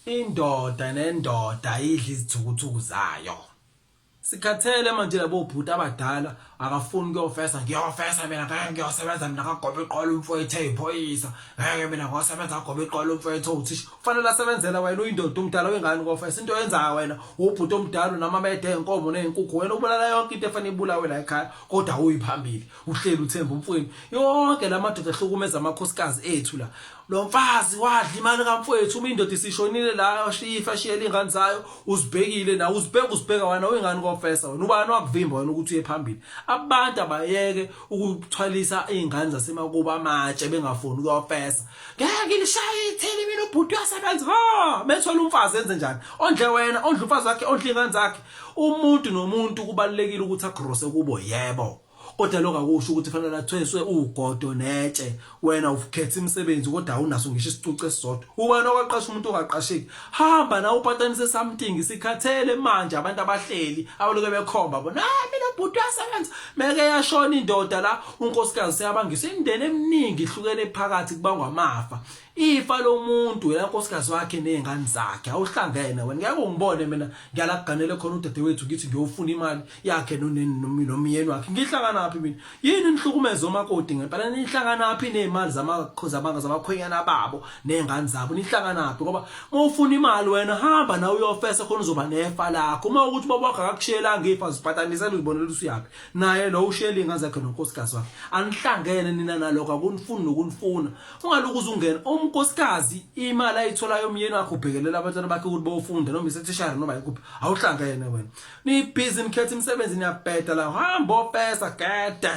Indoda nendoda idla izithukuthuku zayo. Sikhathele manje labo bhuti abadala akafuni kuyofesa ngiyofesa mina ngeke ngiyosebenza mina kagobe iqola umfowethu eyiphoyisa ngeke mina ngosebenza kagobe iqola umfowethu owuthisha kufanele asebenzela wena uyindoda umdala wengane ukofesa into yenzayo wena ubhuti omdala unamamede enkomo nezinkukhu wena ubulala yonke into efanele ibulawe la ekhaya kodwa uyiphambili uhleli uthemba umfweni yonke lamadoda ehlukumeza amakhosikazi ethu la lo mfazi wadla imali kamfowethu uma indoda isishonile la ashiye ifa ashiyele ingane zayo uzibhekile nawe uzibheka uzibheka wena uyingane konfesa wena ubani wakuvimba wena ukuthi uye phambili abantu abayeke ukuthwalisa izingane zasemakuba amatshe bengafuni ukuyofesa ngeke lishaye ithini mina ubhuti uyasebenza ha bethola umfazi enze njani ondle wena ondle umfazi wakhe ondle ingane zakhe umuntu nomuntu kubalekile ukuthi agrose kubo yebo Kodwa lokho akusho ukuthi fanele athweswe ugodo netshe. Wena ukhetha imisebenzi kodwa awunaso ngisho isicucu esisodwa. Ubani okwaqasha umuntu ongaqasheki? Hamba nawe upatanise something. Sikhathele manje abantu abahleli abaloke bekhomba bona. Ah mina bhuti uyasebenza. Meke yashona indoda la unkosikazi seyabangiswa imindeni eminingi ihlukene phakathi kubangwa amafa. Ifa lomuntu yena nkosikazi wakhe nezingane zakhe awuhlangene wena ngeke ungibone mina ngiyalakuganele khona udadewethu ngithi ngiyofuna imali yakhe noneni nomyeni wakhe ngihlangana naphi mina yini nihlukumeza omakoti ngempela nihlangana naphi nezimali zamakhozabanka zabakhwenyana babo nezingane zabo nihlangana naphi ngoba uma ufuna imali wena hamba nawe uyofesa khona uzoba nefa lakho uma ukuthi baba wakho akakushelanga ifa zipatanisela uzibonela usuyaphi naye lo ushela izingane zakhe nonkosikazi wakhe anihlangene nina naloko akunifuni nokunifuna ungalokhu uzungena umkosikazi imali ayitholayo umyeni wakhe ubhekelela abantwana bakhe ukuthi bofunda noma isethishara noma yikuphi awuhlanga yena wena nibhizi nikhetha imisebenzi niyabheda la hamba ofesa gede